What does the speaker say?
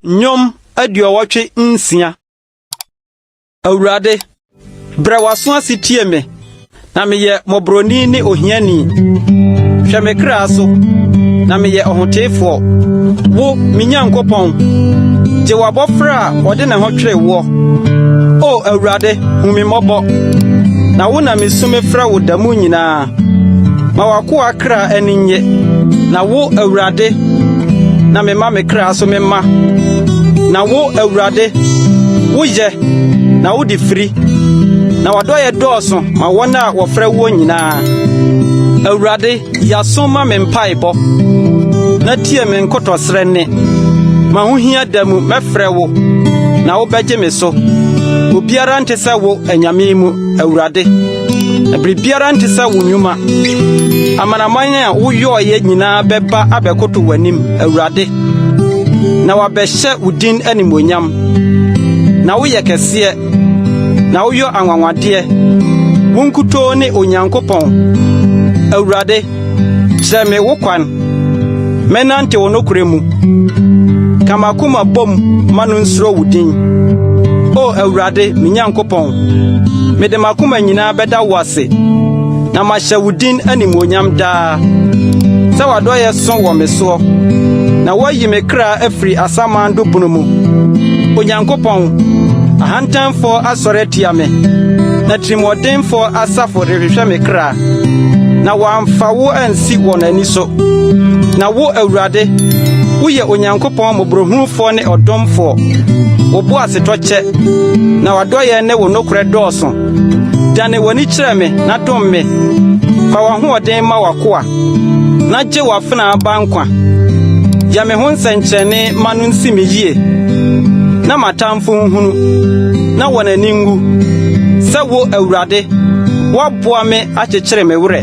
Nnwom aduɔwɔtwe nsia. Awurade, brɛ w'aso ase tie me, na meyɛ mmɔborɔni ne ohiani. Hwɛ me kra so, na meyɛ ɔhoteefoɔ. Wo, me Nyankopɔn, gye w'abɔfra a ɔde ne ho twere woɔ. O Awurade, hu me mmɔbɔ. Na wo na misu mefrɛ wo da mu nyinaa. Ma w'akoa kra ani nnye, na wo, Awurade, na mema me kra so mema. Na wo, Awurade, woyɛ, na wode firi, na w'adɔeɛ dɔɔso ma wɔn a wɔfrɛ woɔ nyinaa. Awurade, Yi aso ma me mpaebɔ na tie me nkotɔsrɛ nne. M'ahohia da mu mɛfrɛ wo, na wobɛgye me so. Obiara nte sɛ wo anyame mu, Awurade. Biribiara nte sɛ wo nnwuma. Amanaman a woyɔeɛ nyinaa bɛba abɛkoto w'anim, Awurade, na wɔabɛhyɛ wo din animuonyam. Na woyɛ kɛseɛ. na woyɔ anwanwadeɛ. Wo nkutoo ne Onyankopɔn. Awurade, kyerɛ me wo kwan. Mɛnante wo nokorɛ mu. Ka m'akoma bom ma no nsuro wo din. O Awurade, me Nyankopɔn, mede m'akoma nyinaa bɛda wo ase, na mahyɛ wo din animuonyam daa. Sɛ w'adɔeɛ so wɔ me soɔ, na woayi me kra afiri asaman do bunu mu. Onyankopɔn, ahantanfoɔ asɔre atia me, na tirimɔdenfoɔ asafo rehwehwɛ me kra, na wɔamfa wo ansi wɔn ani so. Na wo, Awurade, woyɛ Onyankopɔn mmɔborɔhunufoɔ ne ɔdomfoɔ, wo boasetɔ kyɛ, na w'adɔeɛ ne wo nokorɛ dɔɔso. Dane w'ani kyerɛ me na dom me, fa w'ahoɔden ma w'akoa, na gye w'afenaa ba nkwa. Yɛ me ho nsɛnkyerɛnne ma no nsi me yie, na m'atamfo nhunu, na wɔn ani nwu, sɛ wo, Awurade, woaboa me akyekyere me werɛ.